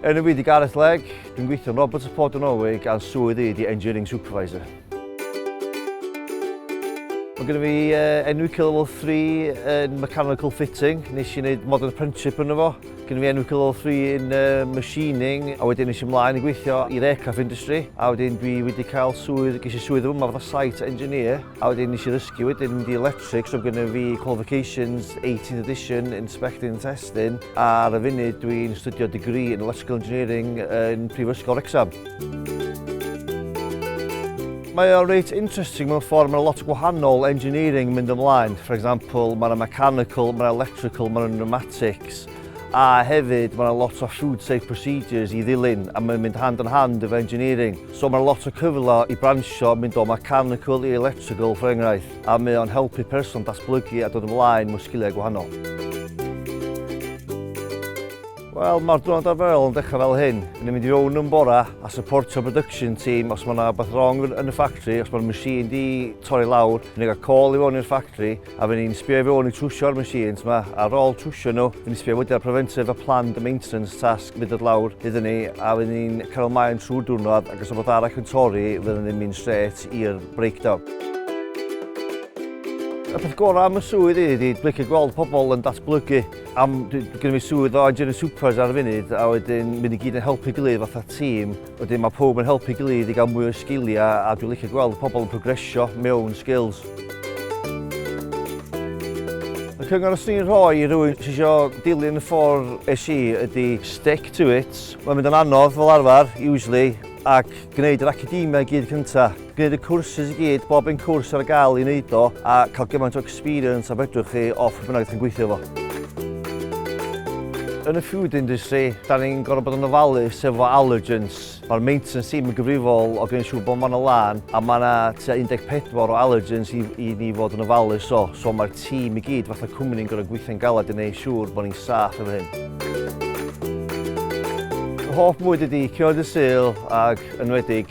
Yn y wedi Gareth Legg, dwi'n gweithio'n Roberts y Ford yn Norwig a'n swydd i di Engineering Supervisor. Mae gennym fi uh, enw Kill Level 3 yn Mechanical Fitting. Nes i wneud Modern Apprenticeship yn efo. Gynna fi enw Cul Level Three in Machining a wedyn es i mlaen i gweithio i'r aircraft industry a wedyn dwi wedi cael swydd, ges i swydd yma fatha site engineer a wedyn nes i ddysgu wedyn mynd i electrics so gynna fi qualifications 18th edition inspecting and testing a ar y funud dwi'n astudio degree in electrical engineering yn Prifysgol Wrecsam. Mae o reit interesting mewn ffordd, mae'n lot o gwahanol engineering mynd ymlaen. For example, mae'n mechanical, mae'n electrical, mae'n pneumatic. robotics a hefyd mae yna lot o food safe procedures i ddilyn a mae'n mynd hand yn hand efo engineering. So mae lot o cyfle i bransio mynd o mechanical i electrical for enghraifft a mae o'n helpu person datblygu a dod ymlaen mewn sgiliau gwahanol. Wel, mae'r diwrnod arferol yn dechrau fel hyn. Yn mynd i fewn yn bora a supportio production team os mae yna beth wrong yn y ffactri, os mae'r machine di torri lawr, yn ei gael call i fewn i'r ffactri, A fy ni'n sbio i fewn i trwsio'r machines yma, ar ôl trwsio nhw, fy ni'n sbio wedyn ar preventive a planned maintenance task fydd dod lawr iddyn ni, a fy ni'n cael ymlaen trwy'r diwrnod, ac os rhywbeth arall yn torri, fydden ni'n mynd straight i'r breakdown. Y peth gorau am y swydd i ydy blicio gweld pobl yn datblygu. Am, dwi, gyda fi swydd o engineering supervisor ar y funud, a wedyn mynd i gyd yn helpu gilydd fatha tîm. Wedyn mae pawb yn helpu'i gilydd i gael mwy o sgiliau a dwi'n licio gweld pobl yn progresio mewn skills. Y cyngor os ni'n rhoi i rywun sy'n eisiau dilyn y ffordd es i ydy stick to it. Mae'n mynd yn anodd fel arfer, usually, ac gwneud yr academia i gyd cyntaf. Gwneud y cwrsys i gyd, bob un cwrs ar gael i wneud o a cael gymaint o experience a fedrwch chi o pwy bynnag chi'n gweithio fo. Yn y food industry, da ni'n gorfod bod yn ofalus efo allergens. Mae'r maintenance team yn gyfrifol o gwneud siŵr bod ma'n y lan a mae yna tua 14 o allergens i, i ni fod yn ofalus o. So mae'r tîm i gyd fatha cwmni'n gorfod gweithio'n galed i wneud siŵr bod ni'n saff efo hyn. Hoff mwyd ydy Cioed y Sul ac enwedig